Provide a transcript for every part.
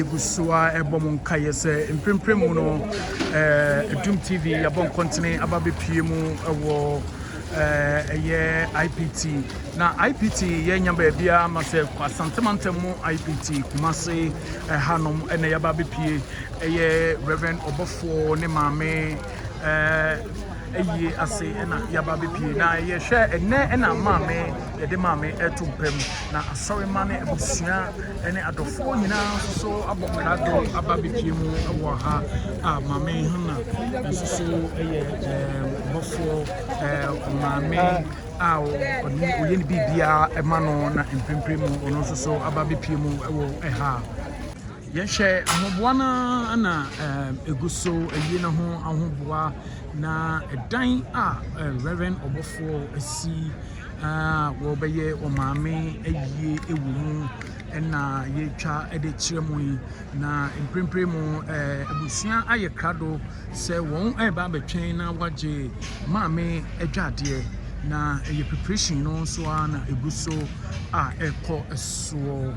yɛgu so a ɛbɔ mo nkaeɛ sɛ mprempren mu no ɛdum eh, tv yɛabɔ nkɔntene aba bɛpie mu ɛwɔ eh, ɛyɛ ipt na ipt yɛnya baabiara ma sɛ asantemantam mu ipt kumase ɛhanom eh, ɛna yɛaba bɛpie ɛyɛ reverend ɔbɔfoɔ ne maame ayie ase na yɛaba bɛpie na yɛhwɛ ɛnɛ na maame yɛde maame ɛto mpa mu na asɔre ma ne abusua ne adɔfoɔ nyinaa nso so abɔ krado aba bɛpie mu wɔ ha a maame hana nso so yɛ bɔfoɔ maame a ɔyɛ ne biribiara ma no na mprempren mu ɔno nso so aba bɛpie mu wɔ ha Yɛhwɛ ahoboa no ara na ɛgu so ayi ne ho ahoboa, na ɛdan a Rev. Ɔbɔfoɔ asi a wɔbɛyɛ ɔmaame ayie wɔ mu na yɛretwa de kyerɛ mo yi. Na mprempren mu abusua ayɛ krado. Sɛ wɔreba abɛtwɛn na wɔagye Maame Adwadeɛ, na ɛyɛ preparation no nso ara na ɛgu so a ɛrekɔ soɔ.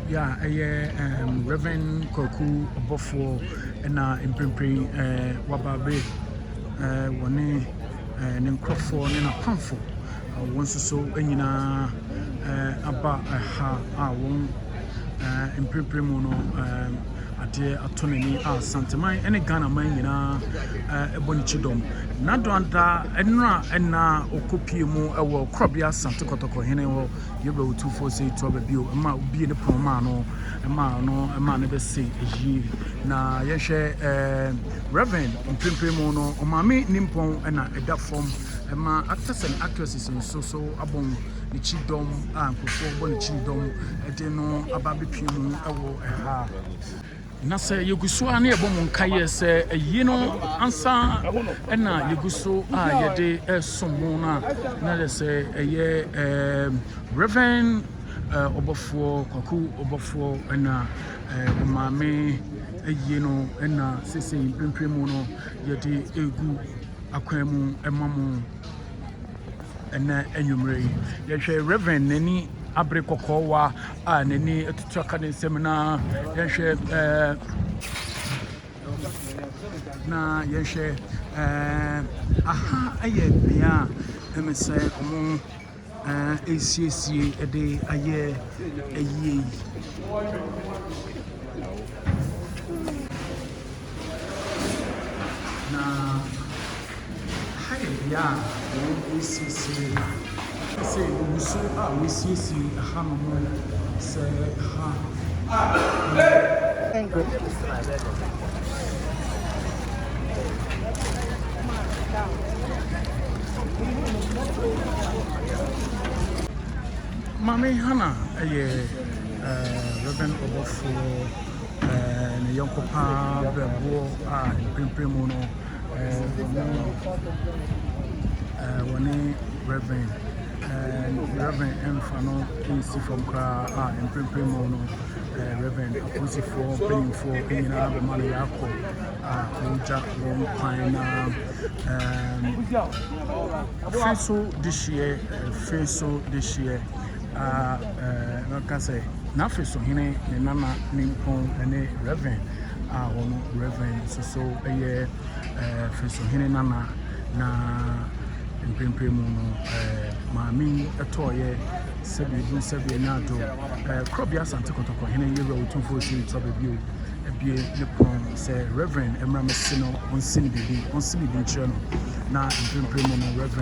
Ya ɛyɛ um, Reverend Kwaku Ɔbɔfoɔ na mprempren uh, waba bɛ uh, wɔne ne nkurɔfoɔ ne n'apamfoɔ a wɔn nso so nyinaa aba ha a wɔn mprempren mu no adeɛ atɔ n'ani a Santeman ne Ghana man nyinaa bɔ ne kyidɔm. N'adoada nnora ɛna ɔkɔpie mu wɔ korɔbea Sante Kɔtɔkɔ hene hɔ yɛbɛ otufoɔ sɛ ɛtu aba bio ma obie ne pono maa no maa no maa no bɛse yie na yɛhwɛ ɛɛ Rev. Mprempren mu no, Ɔmaame Nimpɔn na ɛda fam ma actors and actresses nso so abom ne kyidɔm a nkurɔfoɔ bɔ ne kyidɔm de no aba abɛpue mu wɔ ha. Na sɛ yɛgu so ara na yɛbɔ mo nkaeɛ sɛ ayie no ansa na yɛgu so a yɛde resom mo no a, na yɛ sɛ ɛyɛ um, Rev. Uh, ɔbɔfoɔ Kwaku Ɔbɔfoɔ na uh, Ɔmaame ayie no na sesei mprempren mu no yɛde regu akwan mu ma mo ɛnɛ anwummerɛ yi yɛhwɛ reverend n'ani abere kɔkɔɔwa a n'ani atutu aka ne nsam na yɛhwɛ ɛɛ eh, na yɛhwɛ ɛɛ eh, aha yɛ bea a ɛmɛ sɛ wɔn. ɛresiesie de ayɛ ayie yi. Na ha yɛ bea a wɔresiesie sɛ wɔgu so a wɔresiesie hanom sɛ ha . Maame Hannah yɛ Reverend ɔbɔfoɔ ne yɔnko paa brɛboɔ a mprempren mu no wɔne Reverend Reverend Mfa no nsi fam koraa a mprempren mu no eh, Reverend apolisifoɔ mpanimfoɔ nyinaa bɛma no yɛakɔ a wɔgya wɔn kwan na firi so de hyeɛ firi so de hyeɛ a bɛka sɛ n'afe so hene ne nana ne mpɔn ne Reverend a wɔn Reverend nso so yɛ firi so hene nana na mprempren mu no maame tɔɔyɛ sɛdeɛ ɛduru sɛdeɛ ɛnya adwo Ɛɛ Korɔbea Asante Kɔtɔkɔ Hene Yewura Otumfoɔ Okyiri Tɔbɛ Bio abue ne pon sɛ Rev. Ɛmmra Mɛse no ɔnsi no biribi, ɔnsi biribi nkyerɛ no. Na mprempren mu no Rev.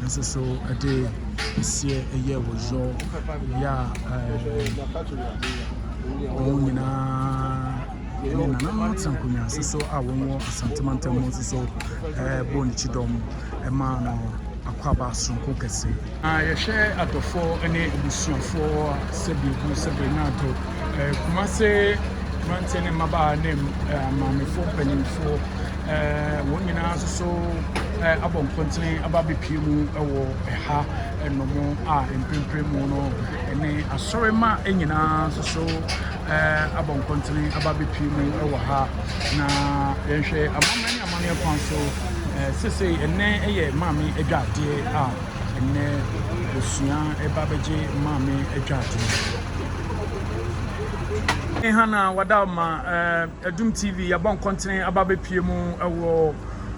nso so ɛde aseɛ ɛyɛ wɔ yɔ yɛ a ɛɛ wɔn nyinaa ne nananom tena nkonnwa nso so a wɔn wɔ Asante Mantam mu nso so ɛɛ bɔ ne kyidɔm ɛma no akwaaba soronko kɛse. Na yɛhwɛ adɔfoɔ ne abusuafoɔ a sɛdeɛ ɛgu sɛdeɛ ɛnya adwo. Eh, Kumase mmeranteɛ ne mmabaa ne eh, maamefoɔ mpanimfoɔ eh, wɔn nyinaa nso so eh, abɔ nkɔntene aba abɛpie mu wɔ ɛha ɛnom a mprempren mu no ɛne asɔremma nyinaa nso so eh, abɔ nkɔntene aba abɛpie mu wɔ ha na yɛnhwɛ amanaman ne amanneɛ kwan so eh, sesei ɛnnɛ yɛ maame adwadeɛ a ɛnnɛ osua ɛba bɛgye maame atwa adwuma. Hana wada ma Adum eh, TV yɛbɔ nkɔntene aba bɛpie mu ɛwɔ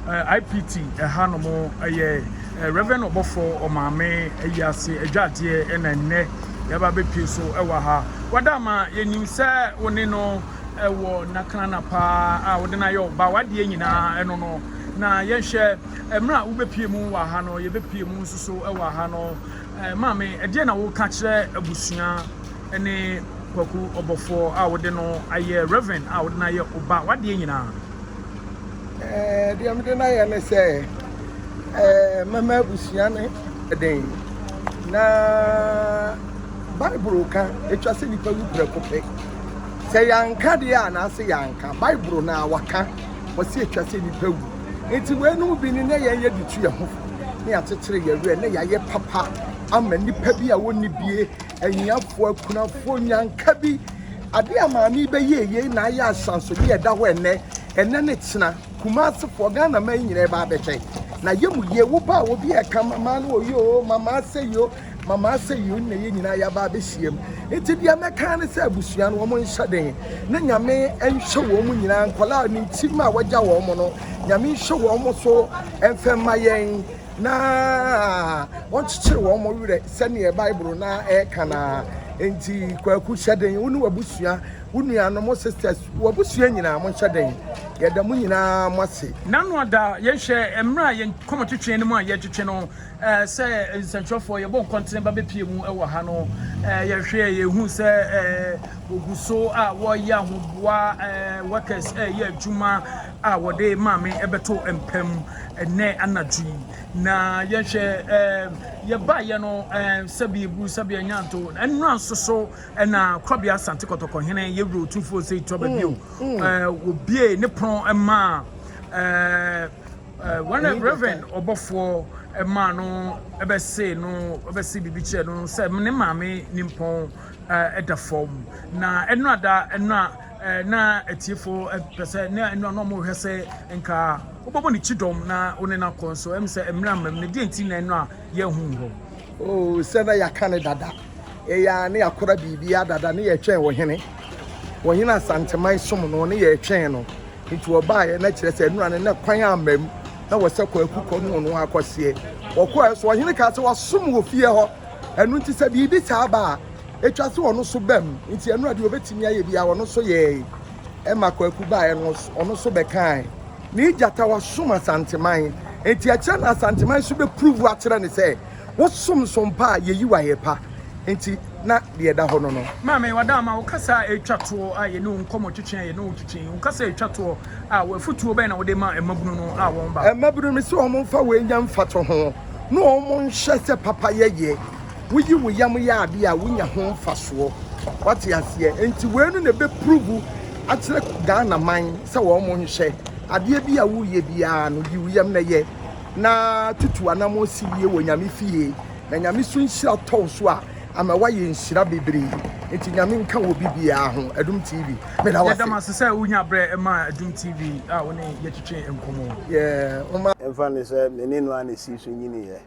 eh, IPT ɛha no mo ɛyɛ eh, Reverend Ɔbɔfo ɔmaame ɛyi ase adwa adeɛ ɛna nnɛ yɛba bɛpie so ɛwɔ ha wada ma yɛnim sɛ wo ne no ɛwɔ nakana paa a wode no ayɛ ɔba wadeɛ nyinaa ɛno no na yɛnhwɛ Mmerɛ a wobɛpue mu wɔ ha no, yɛbɛpue mu nso so wɔ ha no. Maame, ɛdeɛ na woka kyerɛ abusua ne Kwaku ɔbɔfoɔ a wode no ayɛ Reverend a wode no ayɛ oba wadeɛ nyinaa? Deɛ mede no ayɛ ne sɛ mɛma abusua ne den na Bible ka ɛtwa sɛ nipa wu prɛko pɛ. Sɛ yɛanka deɛ a anaasɛ yɛanka Bible na waka wɔsɛ ɛtwa sɛ nipa wu. Enti weinom bi ne na yɛyɛ de tu yɛn ho fo na yɛakyekyere yɛn werɛ na yɛayɛ papa ama nnipa bi a wɔnni bie, ahiafoɔ, akunafoɔ, nyanka bi. Adeɛ a maame yi bɛyɛɛ yei na ayɛ ahyɛnsodeɛ a ɛda hɔ ɛnnɛ, ɛnnɛ ne kyena. Kumaasefoɔ, Ghanaman nyinaa bɛabɛhwɛ. Na yɛ mu yie, wo ba a obi reka mama no ɔyɛ oo, mama asɛi oo, Mama sɛ yei na yɛn nyinaa yɛaba abɛhyiam. Nti deɛ mɛka ne sɛ abusua no wɔn nhyɛ den na Nyame nhyɛ wɔn nyinaa nkɔlaa ne ntim a wɔagya wɔn no Nyame nhyɛ wɔn so mfɛ mma yɛn na wɔnkyekyere wɔn werɛ sɛdeɛ Bible na ɛka na nti kwaku hyɛ den wo ne wabusua wo nuanom sisters wabusua nyinaa mo nhyɛ den yɛda mo nyinaa mo ase. Nanoada yɛnhwɛ mmerɛ a yɛn kɔmɔtwetwe no mu a yɛtwetwe no Sɛ nsɛnkyerɛwfoɔ yɛbɔ nkɔntene ba bɛpie mu wɔ ha no, yɛhwɛ a yɛhu sɛ wɔgu so a wɔreyɛ ahoboa workers ɛreyɛ adwuma a wɔde maame ɛbɛto mpa mu ɛnɛ anadwo yi. Na yɛhwɛ yɛbaeɛ no sɛbi eburu sɛbi anyanto nnura nso so na korabea asante kɔtɔkɔ hene yɛwuro otumfoɔ sɛ itɔ babio wɔbie ne pono maa Wɔn a Rev. ɔbɔfoɔ maa no bɛsee no bɛsee biribi kyerɛɛ no sɛ ne maame nimpɔn da fam, na ɛno a da ɛno a na atiefo pɛ sɛ ne ɛno a na wɔrehwɛ sɛ nka wobɛbɔ ne kyidɔm na wo ne no akɔ nso ɛm sɛ mmerɛ mmam no deɛ nti na ɛno a yɛahu hɔ. Oh, sɛ na yɛaka ne dada ɛyɛ a ne yɛakora biribiara dada ne yɛtwɛn ɔhene ɔhene asanteman som no ne yɛtwɛn no Nti wɔbaeɛ na kyerɛ sɛ nnora no na kwan amma mu na wɔ sɛ Kwaku kɔ ne ɔno akɔseɛ. Wɔkɔɛ so ɔhene kaa sɛ wasom wɔ fie hɔ. Ɛno nti sɛ biribi saa ba a, ɛtwa sɛ ɔno so bam. Nti ɛnora deɛ ɔbɛtumi ayɛ biara ɔno so yɛɛe. Ɛma Kwaku baeɛ no ɔno so bɛkaae. Ne Gyata wasom Asanteman. Nti ɛkyerɛ no Asanteman so bɛpuruvu akyerɛ no sɛ Wosom so mpa a yeyi wo ayɛ pa nti na deɛ ɛda hɔ no no. Maame Adaama, wo kasa a ɛretwa toɔ a yɛne wo nkɔmmɔ twetwe a yɛne wo twetwe yi, wo kasa a ɛtwa toɔ a w'afotuo bɛn na wode ma mmabunu no a wɔn ba. Mmabunu me sɛ wɔn mfa wei nyɛ mfatoho na wɔn nhwɛ sɛ papa yɛ yɛ. Woyi wo yam yɛ adeɛ a wonya ho mfasoɔ. Wate aseɛ? Nti wei no na ɛbɛpuruvu akyerɛ Ghana man sɛ wɔn nhwɛ adeɛ bi a woreyɛ biara no yi wo yam na yɛ. na tutu anamɔ si yie wɔ nyame fie na nyame so nhyira tɔw so a ama wayɛ nhyira bebree nti nyame nka wɔ bibiaa ho adum tv meda wase yɛdam ase sɛ wonya berɛ ɛma adum tv a wo ne yɛtwetwe nkɔmmɔ yeah, ɛmfa ne sɛ me ne no a ne sii so nyiniiɛ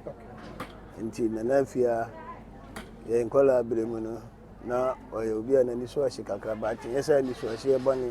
nti nana afia yɛ nkɔla abere mu no na ɔyɛ obi a n'ani so ahye kakra ba atenyɛ sɛ ani so ahyeɛ bɔne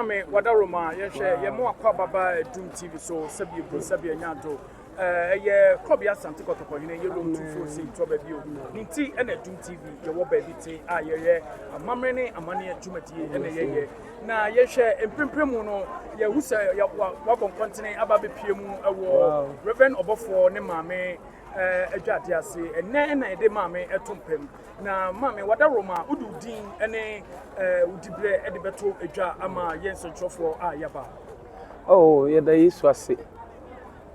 Ame wada Roma yɛhwɛ yɛn mo akɔ ababa Doom TV so sɛbi ebu sɛbi anya do ɛyɛ eh, kɔbi asante kɔtɔkɔ hene yɛ Rome tufo si ntɔ baabi o ne nti ɛna Doom TV yɛwɔ baabi te a yɛyɛ amammerɛ ne amaneɛ dwumadie ɛna yɛyɛ na yɛhwɛ mprempren mu no yɛhu sɛ wabɔ nkɔntene aba bɛpie mu ɛwɔ Reverend ɔbɔfoɔ ne maame eh, adwa ade ase ɛnɛ ɛna yɛde maame ɛto mpam Na ma me w'adaworo ma wode wo din ne wo diberɛ de bɛto dwa ama yɛn nsɛnkyerɛfoɔ a yɛaba. Oh, yɛda Yesu ase.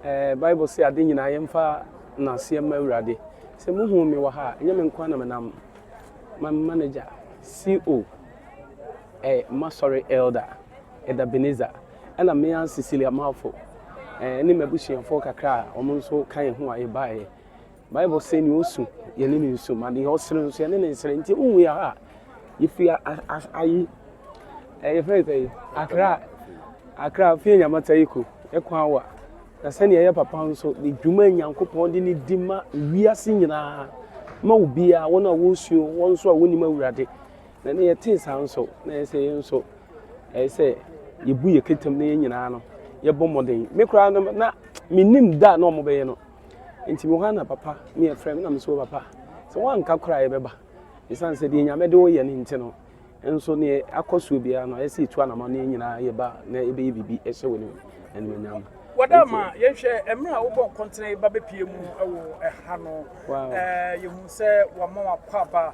Eh, Bible se ade nyinaa yɛmfa nnaseɛ mma Awurade. Sɛ muhu me wɔ ha a, ɛnyɛ me nko na menam. My manager, CO, eh, m'asɔre elder, Ɛda Beneza, ɛna me ara Cecilia Malfo, eh, ne m'abusuafoɔ kakra a wɔn nso ka yɛn ho a yɛbaeɛ. Bible se nea osu, yɛne no nsu, ma deɛ ɔsere nso, yɛne no nsere. Nti wohu yɛ ha a, yɛfiri ayi, yɛfrɛ no sɛ akra, akra fie nyamata yi ko, ɛkɔ awa. Na sɛnea ɛyɛ papa nso, ne dwuma Nyankopɔn de ne di ma wiase nyinaa, ma obiara, wɔn a wɔresuo, wɔn nso a wɔnnim awurade. Na ne yɛtee saa nso, na ɛsɛ yɛn nso, ɛyɛ sɛ yɛbu yɛ ketem na yɛn nyinaa no, yɛbɔ mmɔden. Me koraa no, na mennim da a na wɔbɛyɛ no. Enti mewɔ hɔ ara na papa ne yɛ frɛ me na me nso wɔ papa sɛ woanka koraa yɛbɛba ɛsiane sɛ deɛ Nyame de wo yɛ no nti no nso neɛ akɔ soɔ biara no ayɛ sɛ yɛtu anamɔne nyinaa yɛba na yɛbɛyɛ biribi ɛhyɛ wo animuonyam. Wɔda ma yɛnhwɛ mmerɛ a wobɔ nkɔntene ba bɛpie mu wɔ ɛha no yɛhu sɛ wɔama wakɔ aba.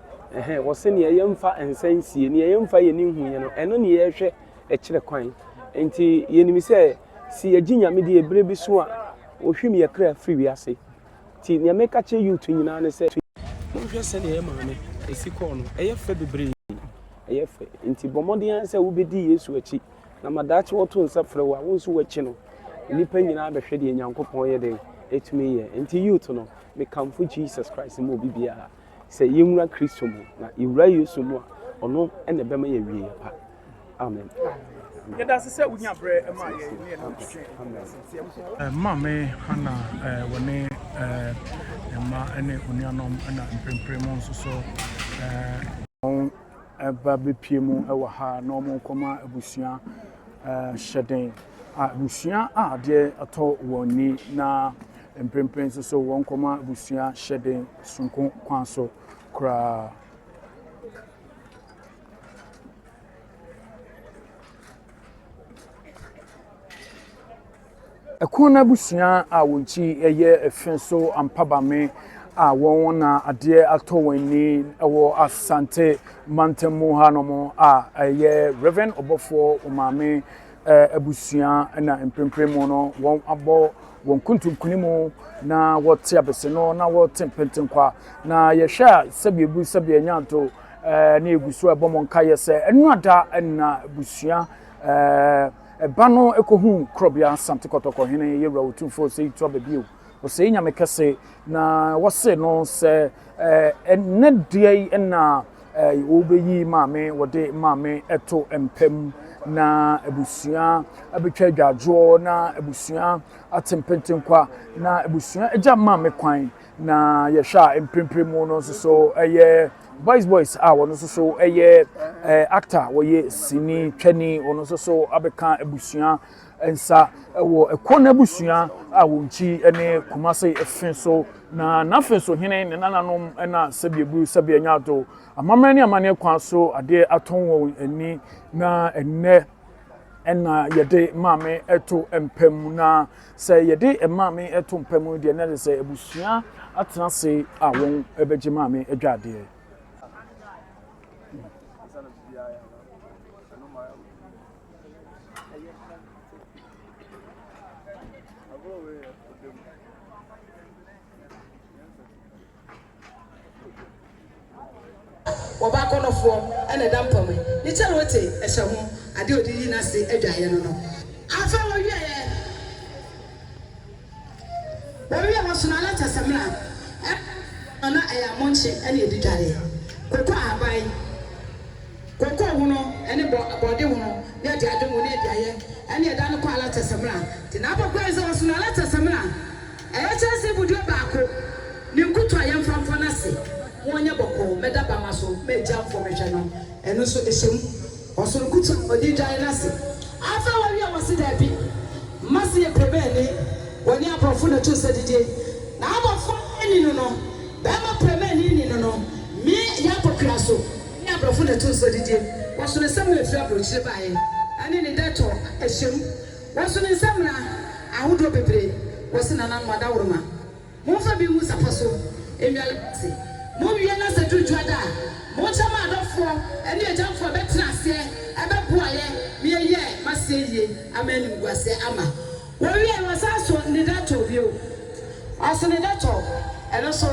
Ɛhɛɛ, wɔse nea yɛmfa nsa nsie, nea yɛmfa yɛni nhuiɛ no, ɛno ne yɛhwɛ kyerɛ kwan. Enti yɛnim sɛ, se yɛgye Nyame die bere bi so a, Ohwim yɛ kra firi wiase. Nti nea meka kyerɛ youth nyinaa ne sɛ, monhwɛ sɛdeɛ yɛ maame si kɔɔ no, ɛyɛ fɛ bebree, ɛyɛ fɛ. Nti bɔ mmɔden ara sɛ wobɛdi Yesu akyi, na ma daakye wɔto nsa frɛ wo a, wo nso woakyi no. Nnipa nyinaa bɛhwɛ deɛ Nyankopɔn yɛ dɛn? Ɛtumi yɛ. Nti youth no, mekamfo Jesus Christ ma obi biara. sɛ yɛnwura Kristo mu. Na yɛwura Yesu mu a, ɔno na ɛbɛma yɛawieɛ pa. Amen. Yɛda ase sɛ wonya berɛ ma yɛn ne yɛn ntwetwe asɛnteɛ nkɔ. Maame Hana wɔ ne mma ne onuanom na mprempren mo nso so wɔn ba bɛpie mu wɔ ha na wɔn nkɔma abusua hyɛden a abusua a adeɛ atɔ wɔn ni na mprempren nso so wɔn nkɔma abusua hyɛden. soronko kwan so koraa. Ɛko no abusua a wɔn ti yɛ efe so ampabame a wɔn na adeɛ atɔ wɔn ani wɔ Asante mantam mu ha nom a ɛyɛ Reverend Ɔbɔfoɔ Omame abusua na mprempren mu no wɔn abɔ Wɔkuntun nkonim na wɔte abeseno na wɔte mpentenkwa, na yɛhwɛ a sɛbi egu sɛbi anya nto ɛɛ ne egu so ɛbɔ mo nkaeɛ sɛ ɛnu ada ɛna busua ɛɛ ɛba no ekohu korɔbea Asante Kɔtɔkɔ hene yɛwura otumfoɔ Osei Tuah Babiew Osei Nyame kɛse na wɔse no sɛ ɛɛ ɛnɛ deɛ yi ɛna Wobeyi Maame wɔde Maame to mpa mu na abusua abɛtwa adwadwoɔ na abusua ate mpentenkwa na abusua agya Maame kwan na yɛhwɛ a mprempren mu no nso so ɛyɛ boys boys a wɔn nso so ɛyɛ actor wɔyɛ sini twani wɔn nso so abɛka abusua Nsa wɔ Ɛkɔ n'abusua a wɔn nkyi ne Kumase fe so, na n'afe so hene, ne nananom na sɛbi aburu sɛbi anya ado. Amammerɛ ne amanneɛ kwan so adeɛ atɔn wɔn ani, na ɛnnɛ na yɛde maame to mpa mu, na sɛ yɛde maame to mpa mu deɛ na ɛsɛ sɛ abusua atena ase a wɔn bɛgye maame adwa adeɛ. Wɔba akɔnnɔfoɔ na ɛda mpa mu yi, ne kyɛrote hyɛ ho, adeɛ a ɔde yi n'ase adwaeɛ no no. Afei wɔwieeɛ. Wɔwiee hɔ nso na na kyerɛ sɛ mmra ɛna wɔn no na ɛyɛ amonkye ɛna yɛdi dware, koko ahaban, koko hono ɛne bɔ bɔɔde hono na yɛde adwe ngo na yɛde ayɛ ɛna yɛda no kɔ ala kyerɛ sɛ mmra. Nti na abɔ kura yi sɛ wɔso no ala kyerɛ sɛ mmra ɛyɛ kyɛnse ibuduo baako ne nkutu a yɛmfa mfɔ no ase, mo nyɛ bɔkɔɔ mɛda bama so mɛ gya mfɔ mɛhwɛ no ɛno nso ɛhyɛ mu. Ɔsono ku kyɛm, ɔde dwae n'ase. Afei wɔwe a wɔse daabi. Mma se yɛ prɛmɛɛni, wɔne abrɔfo na to nsa didie. Na abɔfoɔ nni no no, bɛɛma prɛmɛɛni nni no no, me yɛ akɔkora so, wɔne abrɔfo na to nsa didie. Wɔsono nsɛm a ɛfiri aburokyire baeɛ ɛne ne dɛtɔ ɛhyɛm. Wɔsono nsɛmina ahodoɔ bebree, wɔse nananom adaworoma. Momfa bi ngu sapa so nnwa no ase. Mowie no Asɛ Duru Dwoada a, monkyɛ mo adɔfoɔ ne agyamfoɔ a ɛbɛtena aseɛ bɛboaeɛ ma yɛayɛ mo aseɛ yie ama animguaseɛ ama. Wɔwie no, wɔsan so ne dɛtɔɔ bio. Wɔso ne dɛtɔɔ, ɛno nso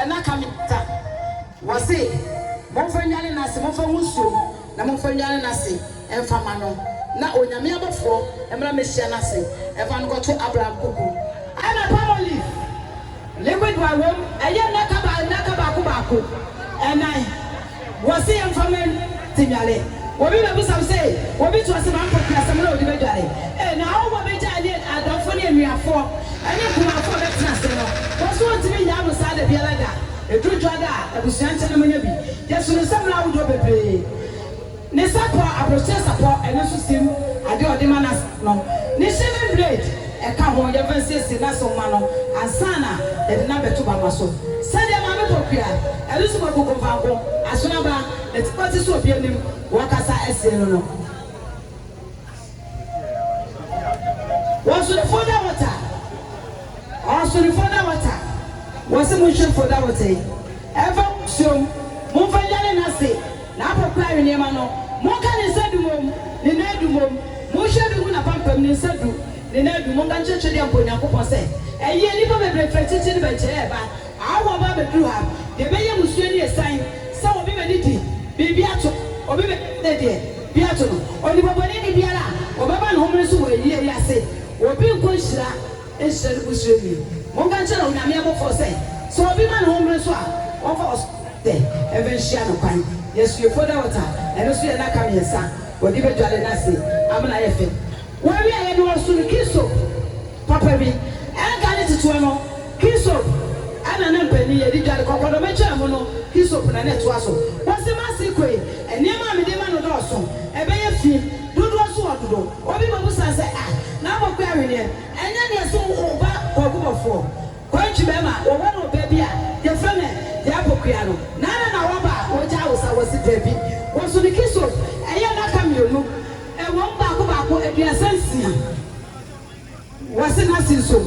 nnaka mmiɛnsa. Wɔse momfa nnwa no ase, momfa ngu nsuom Na momfa nnwane n'ase mfa mma no, na Onyame abɔfoɔ mmra mmɛhyia n'ase mfa no nkɔto Abraham kuku. Ɛna palmolive liquid wine wom, ɛyɛ nnaka ba nnaka baako baako, ɛnan, wɔse yɛmfa mma no te nnwale. Obi bɛbisa wo se, obi to ase ma mpope asɛm na ɔde bɛdwale? Ee, na awɔfoɔ bɛgya ɛne adɔfoɔ ne anuafoɔ ɛne nkumanfoɔ a bɛtena ase no, wɔse wɔntumi nnyaa mo saa dabiara da, ɛduru dwada a abusua nkyɛn na monya bi. Yɛso ne nsa mu no ahodoɔ bebree. Ne sapɔ a abrɔkyire sapɔ ɛno nso sim adeɛ a ɔde ma nurse no ne shaving blade ɛka ho. Yɛmfa nsiesie nurse nwoma no ansa na yɛde no abɛto bamma so. Sɛdeɛ maame bɔ kua ɛno nso bɔ kuku mfanko, asono aba, ne ti pɔte so obi anim, wɔkasa asie no no. Wɔsono folder water Ɔsono folder water Wɔse monhwɛ folder water yi Ɛmfa ngu nsuom Momfa ndware n'ase N'apɔ kora awe nneɛma no Monka ne nsa du mmom Ne nan du mmom Monhwɛ bi ngu n'apampam Ne nsa du Ne nan du Monka nkyerɛkyerɛ deɛ mpo Onyankopɔn sɛ ɛyeɛ Nnipa bebree frɛ titire no bɛgyeɛ ɛba Awo aba abɛduru ha. Deɛ ɛbɛyɛ mmusua ni ɛsiane sɛ obi bɛdi di biribi ato obi bɛdi sɛdeɛ bi ato no. Onipabɔne ni biara a ɔbɛba ne homene so wɔ ayie yi ase, obi nkɔ nhyira nhyira ne busua ni. Monka nkyerɛ Onyame abɔfoɔ sɛ, sɛ obi ma ne homene so a, wɔmfa wɔ so ntɛntɛ mfa nhyia no kwan. Yɛsoɛ foda water, ɛno nso yɛ nnaka mmiɛnsa, wɔde bɛdware no ase ama no ayɛ fɛ. Wɔawie a, yɛde ɔsoro key soap papa bi, ɛnka ne ketewa no, Hisop na na mpanin yɛ de dware kɔkɔdɔm atwaa mu no, hisop na na ɛtoa so. Wɔse m'ase kɔ yi, nneɛma a mede ma no dɔɔso, ɛbɛyɛ fi, dodoɔ so ɔdodo. Obi bɛbusa sɛ, Ah, N'Amoakua Aweneɛ, ɛnyɛ neɛ se wo ba Kwaku Bɔfoɔ, Kwantwi bɛɛma, wɔwɔ no ɔbaa bi a yɛfrɛ no Yɛapokua no, na ɛna na waba a wɔgyaa wo sa? Wɔse daabi. Wɔso no hisop, ɛyɛ nnaka mmienu, ɛwom baako baako aduasa nsia. Wɔse na se nso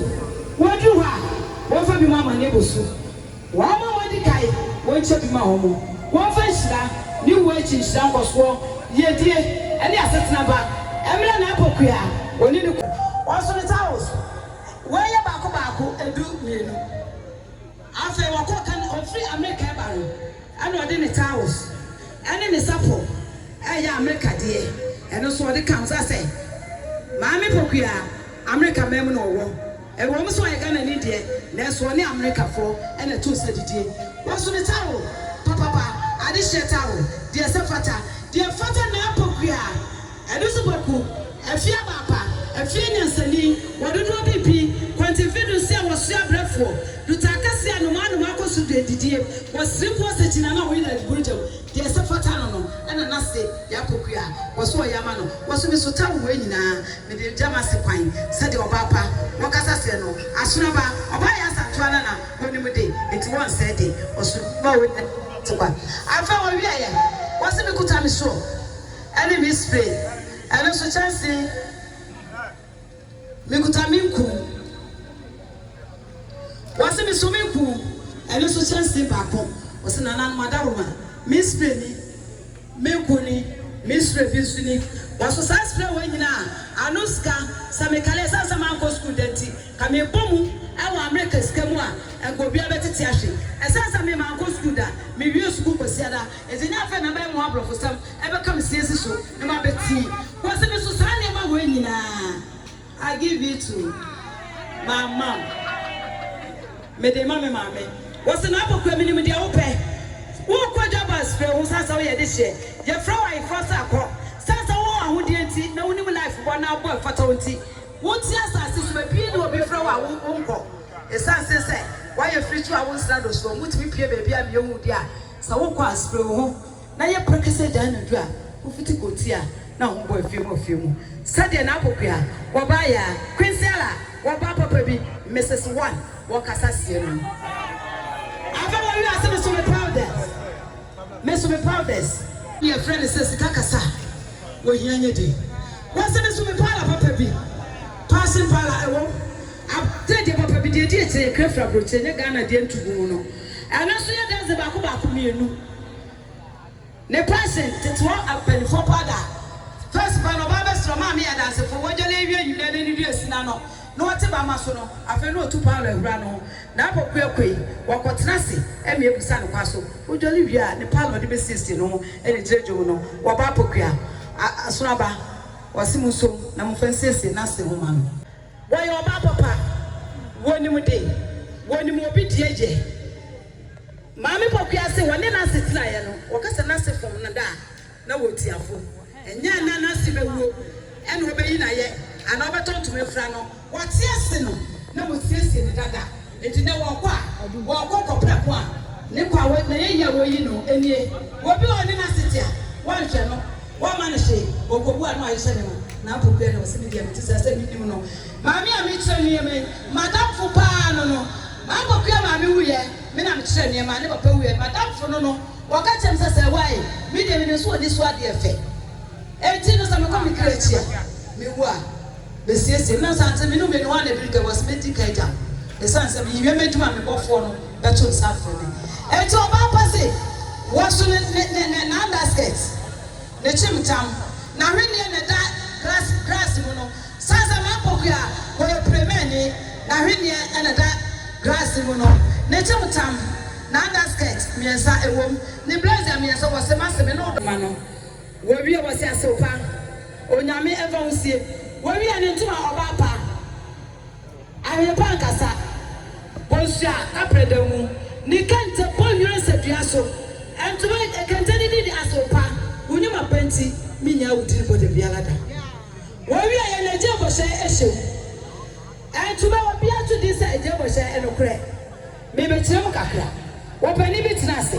wɔduru hɔ a wɔmfa bi ma ama ne bo so. Wɔn a wɔadi kan wɔnkyɛ bi ma wɔn. Wɔmfa nhyira ne wuo akyi nhyira nkɔsoɔ, yiedie ne asetena ba mmrɛ n'apɔkua ɔne ne kunu. Wɔso ne towels. Wei yɛ baako baako, edu mmienu. Afei wɔkɔɔ ka ne ofiri Amerika reba no, ɛna ɔde ne towels ne ne sapo a ɛyɛ Amerika deɛ, ɛno nso ɔde ka ho. Sɛ sɛ Maame Pokuaa, Amerika man mu na ɔwɔ, ɛwɔ mu sɛ ɔyɛ Ghanani deɛ, nanso ɔne Amerikafoɔ na ɛto nsa didie. Waso ne towel papapa, adehyeɛ towel, deɛ ɛsɛ fata, deɛ ɛfata Nana Pokuaa. Ɛno nso boku, afie abaapa, afie anyansani, wɔ dodoɔ bi bi, kwanti mfe du nsia wɔ soɛ abrɛfoɔ, duta akɛseɛ a nnomaa nnomaa kɔ so di adidie wɔ siriku ɔsakyina no a wɔyi no aduburu gya mu, deɛ ɛsɛ fata no no, ɛna n'ase yɛ akokua, wɔ so ɔyɛ ama no, wɔ so me so tɛw wei nyinaa, me de gya m'ase kwan, sɛdeɛ ɔbaa pa, wɔ kasa seɛ no, asono ba, ɔbaa yɛ asantoa na na ɔnim de, enti wɔ nsɛɛ de, wɔ so. Ba wei nyinaa te kwa. Afei ɔwieɛ, wɔ se me kuta me soɔ. Ɛne me spray ɛno nso kyɛnse mekuta me nku wɔse meso me nku ɛno nso kyɛnse baako wɔse nananom adaworoma me spray ni me nku ni me spray bi nso ni wɔso saa spray wɔ nyina a ano sika sɛ mekale ɛsane sɛ mankɔ sukuu da nti ka mebɔ mu ɛwɔ Amerika sika mu a ɛnka obia bɛtete ahwe ɛsane sɛ me mankɔ sukuu da mewie sukuu kwasiada Edze nye afɛn na mɛma aborɔfosɛm bɛka me siansi so na mabɛtse w'ase no so, saa nneɛma wei nyina I give it to my mom, mede ma me maame. Wɔse na abɔ kora menim deɛ wopɛ, worekɔ Jabaz frɛ wo sane sɛ woyɛ dehyeɛ, yɛfrɛ wo ayeforɔ sɛ kɔ, sane sɛ wowɔ ahodeɛ nti na wonim life bɔ na abɔ ɛfata wo nti, wote asase so baabi a obi frɛ wo a wonkɔ, ɛsane sɛ sɛ woayɛ firi kyi wo a wonsra do soɔ, motumi pue baabi a meɛhu wo deɛ a. Sɛ wokɔ a, spre wo ho na yɛ prɛkɛsɛ gyae anadwo a wofiti kɔ ti a na ho bɔ afie mu afie mu. Sɛdeɛ na Apokua, wɔba Ayaa, Quincy Ala, wɔba papa bi, Mrs. One, wɔkasa sie no no. Afei wɔwie a, sɛ me so me powders, me so me powders. Yɛfrɛ no sɛ sika kasa, wɔhia nyɛ den. Wɔse me so me powder papa bi, Passion Powder, ɛwom, aberanteɛ deɛ papa bi deɛ ɛdi akyire yɛkra firi aburokyire, nyɛ Ghana deɛ ntugu mu no. Ɛno nso yɛ dɛse baako baako mmienu ne pɛsen tetewa mpaninfoɔ pa da. First pɛ no ɔbaa bɛsrɛ ɔmaa me Adansefo wɔgyale awie nyinaa na anidie asi n'ano na wɔte bamma so no afei na ɔtu Paulo ahura no ho na akokuakue wɔkɔ tena ase ɛme abusa no kwa so wɔdwale wie a ne pa na ɔde bɛsiesie ne ho ɛne gyina dwom no wɔba apokua a asono aba wɔse monsom na momfa nsiesie n'ase ho ma no. Wɔyɛ ɔbaa papa, wɔnim de, wɔnim obi deɛ yɛ. Maame Pokuaa se wɔne Nase teraeɛ no, wɔka sɛ Nase fom no da a, na wɔtiafo. Ɛnyɛ a na Nase bɛwuo ɛna ɔbɛyi no ayɛ anaa ɔbɛtɔ ntoma afira no. Wɔte ase no, na wɔsiesie no dada. Enti nnɛ wɔkɔ a, wɔkɔ kɔpɛ ko a ne kwa wɔ n'ayɛyie a wɔyi no nie. Obi a ɔne no asete a, wɔnhwɛ no, wɔmma no hwee, ɔkɔbu a na wayɛ hyɛ ne ho, na apo bi a na ɔse me deɛ mete saa sɛ mennim no. Maame a mekyerɛ nneɛma yi, m'adamfo pa ara no no, m'abɔkua maame wuiɛ, me na mekyerɛ nneɛma, ne papa wuiɛ, m'adamfo no no, wɔka kyerɛ me sɛ sɛ ɛwɔ a ei, me deɛ menim sɛ ɔni so adeɛ fɛ, enti no sɛ mekɔ me kra akyi a, mewu a. Besiesie me, na sɛ ankyɛ me ne w'ani hɔ a na ɛbɛdi kan, wɔse mɛdi kan agya wo, ɛsiane sɛ mewie m'adwuma a me bɔfoɔ no bɛto nsa afrɛ me. Enti ɔbaa pa se, wɔso ne, ne, ne, ne, n'underskirt, ne kyimtam, n'ahwenneɛ na ɛda grass, grass mu no, ɛsiane sɛ m'apoku a wɔyɛ Premɛni, n'ahwenneɛ na ɛda grass mu no, ne kyimtam, n'underskirt mmiɛnsa ɛwom, ne blazer mmiɛnsa, wɔse mase me ne wo dɔma no. Wɔwie wɔ se asew pa. Onyame ɛmfa ho sie. Wɔwie ne ntoma ɔbaa pa. Ahwene pa nkasa. Bonsua kapre da mu. Ne kente bɔ nwura nsa dua so. Ntoma kente ne din de asew pa. Wo nyuma pa nti me nyaa wo din bɔ da biara da. Wɔwie yɛ na gyee bɔhyɛ ɛhyɛ mu. Ntoma obi ato din sɛ ɛgyee bɔhyɛ ɛnokorɛ. Me bɛkyerɛ mu kakra. Wɔpanin bi tena ase.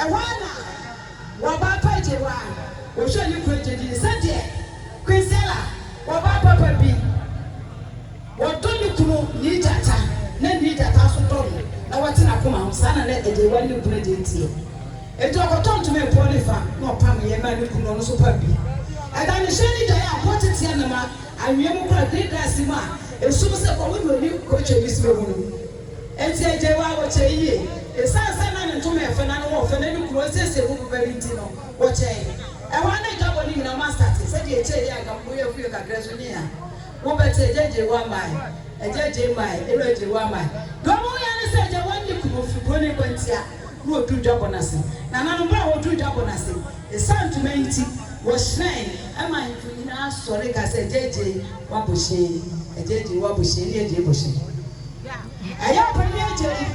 Ɛhɔ ara na wɔbaa pa gyee hɔ ara wɔhwɛɛ ne kunu agye dii sɛdeɛ Quincella wɔbaa papa bi wɔdɔ ne kunu nii gyata na nii gyata nso dɔ no na wɔte n'akoma ho saa na na ɛdeɛ wari ne kunu agye nteɛ enti ɔkɔtɔ ntoma ɛpɔ ne fa na ɔpameeɛ maa ne kunu na ɔno nso pam bi ɛda ne hyɛ ne dwaeɛ a mpo teteɛ no ma anwea mu kura green glass mu a ɛsum sɛ kɔhɔ na ɔni kɔtwɛ ne srɛ mu no. Enti agya yi wɔ awokyɛ yiye. Esiane sɛ na ne ntoma yɛ fɛ na ne ho yɛ fɛ na ne kunu ɔresiesie mu boba bi nti no, wɔkyɛe. Ɛhɔ ara na adwabɔ no nyinaa mu asate. Sɛnea ɛkyɛe yi anka mpo yɛn fie kakra nso nni ha. Wobɛte, Agya agyawu amae, agya agyae mae, Elo agyawu amae. Nea ɔma woyɛ ara ne sɛ agya wannye kunu mfi buroni kwantia na oduu dwabɔ no ase. Nananom bere a woduu dwabɔ no ase, esiane ntoma yi nti, wɔhyerɛn. Ɛma ahemfo nyinaa sɔre ka sɛ, Agya agyae w'abohyee, agya agyae w'abohyee ne agyae bohyee. Ɛyɛ a ɔpanyin agya yi,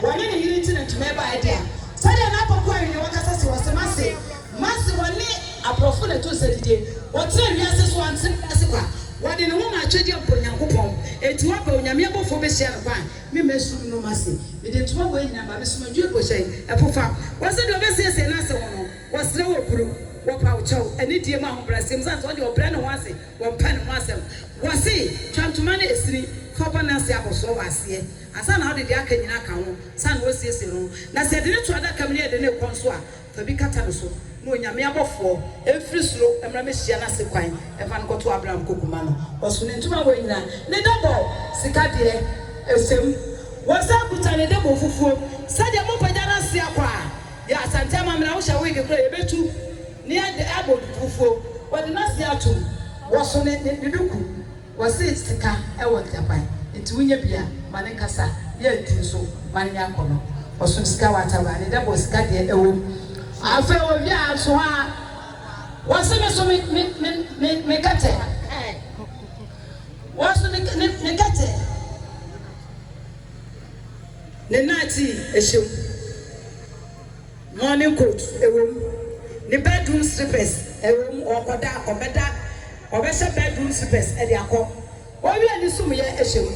wɔne ne yere nti na ntoma yi bae de a, sɛdeɛ na Apoku Ahenni no kasa se, wɔse, Mase, mase, wɔne aborɔfo na ɛto nsa didie, wɔtenaa wiase so, wɔantena wiase kwa, wɔde ne ho maa akyɛdeɛ a mpo Onyankopɔn, enti wɔaba Onyame abɔfoɔ bɛhyia no kwa a, me mmasuru no, mase, mede ntoma wei nyinaa ma, mesoma dua gu hyɛn, ɛpo fa, wɔse deɛ ɔbɛsiesie n'ase ho no, wɔsrɛ wo obuo, wɔpa wo kyɛw, anidie mu, ahobrɛaseɛ mu, sane sɛ ɔdeɛ ɔbrɛ ne ho ase, Wɔpɛ ne ho asɛm. Wɔse, Twa ntoma no ɛsini, fa bɔ n'ase abɔsoɔ wɔ aseɛ, ansa na wode deɛ aka nyina aka ho, ansa na wasiesie ne ho. Na sɛ yɛde no to adaka mu ne yɛde no rekɔ nso a, fa bi kata ne so, na Onyame abɔfoɔ mfiri soro mmra mmɛhyia no ase kwan mfa no nkɔto Abraham kokuma no. Wɔso ne ntoma wei nyina, ne dɔbɔ, sika deɛ, ɛsɛ mu. Wɔsan kuta ne dɔbɔ fufuo. Sɛdeɛ mopagya no ase akɔ a, yɛ Asante amammerɛ a wohyɛ wig koraa a, yɛbɛtu. Ne ɛde ɛbɔ dukuufuo. Wɔde n'ase atom. Wɔso ne ne ne duku. Wɔse sika wɔ ntaban. Enti wonya bi a, ma no nkasa. Yɛ adi nso, ma no nyɛ akɔnnɔ. Ɔsom sika wɔ ataban. Ne dɛbɔ sika deɛ ɛwom. Afei wɔwie a, nso a, wɔse me so me me me me me kɛtɛ. Wɔso ne ne ne kɛtɛ. Ne nnaate hyɛ mu. Morning coat ɛwom ne bedroom slippers ɛwom ɔkɔda ɔbɛda ɔbɛhyɛ bedroom slippers ɛde akɔ ɔwie ne sumyɛ ɛhyɛ mu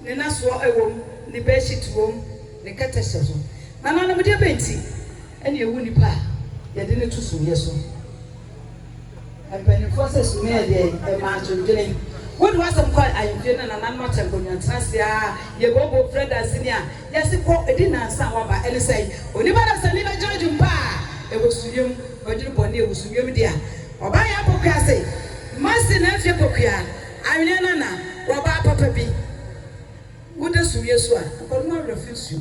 ne nasoɔ ɛwom ne bedsheet wom ne kɛtɛ hyɛ so nananom deɛ bɛn nti ɛne ɛwu nipa a yɛde no to sumyɛ so. Mpanimfoɔ sɛ sumii yɛ deɛ ɛmaa ntwentwene. Wode w'asɛm kɔ ahemfie na nananom akyɛ nkonnwa tenase aa yɛbooboo frɛ danseni a yɛse kɔ ɛdi nansa a waba ɛne sɛn? Onipa dasani bɛgyina adwumpa a ɛwɔ sumiiɛ mu wadwene bɔne a ɛwɔ sumiiɛ mu dea ɔbaa yɛ apɔkua se masi nanfie pɔkua anwene na na wabaa papa bi woda sumiiɛ so a akɔnom awerɛ fi nsuo